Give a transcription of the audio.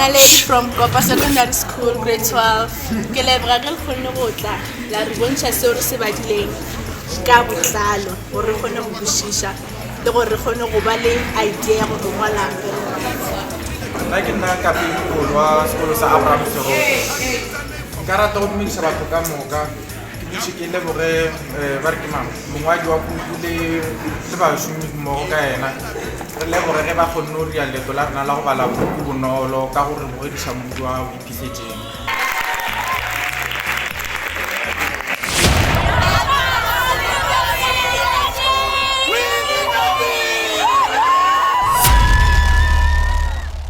Naledi from Kopa Secondary School, grade 12. Ke leboga ge le kgonne go tla la re bontšha seo re se badileng ka botlalo gore re kgone go kwešiša le gore re kgone go ba le idea ya gore ngwala nna ke nna kapele kgolo wa sekolo sa abraham seroto nka rata go dumedisa batho ka moka Ke dutše ke leboge ba re ke mang mongwadi wa puku le le bašomi mmogo ka yena re leboge ge ba kgonne go ria leto la rena la go bala puku bonolo ka go re bogediša modu wa gago iphihletseng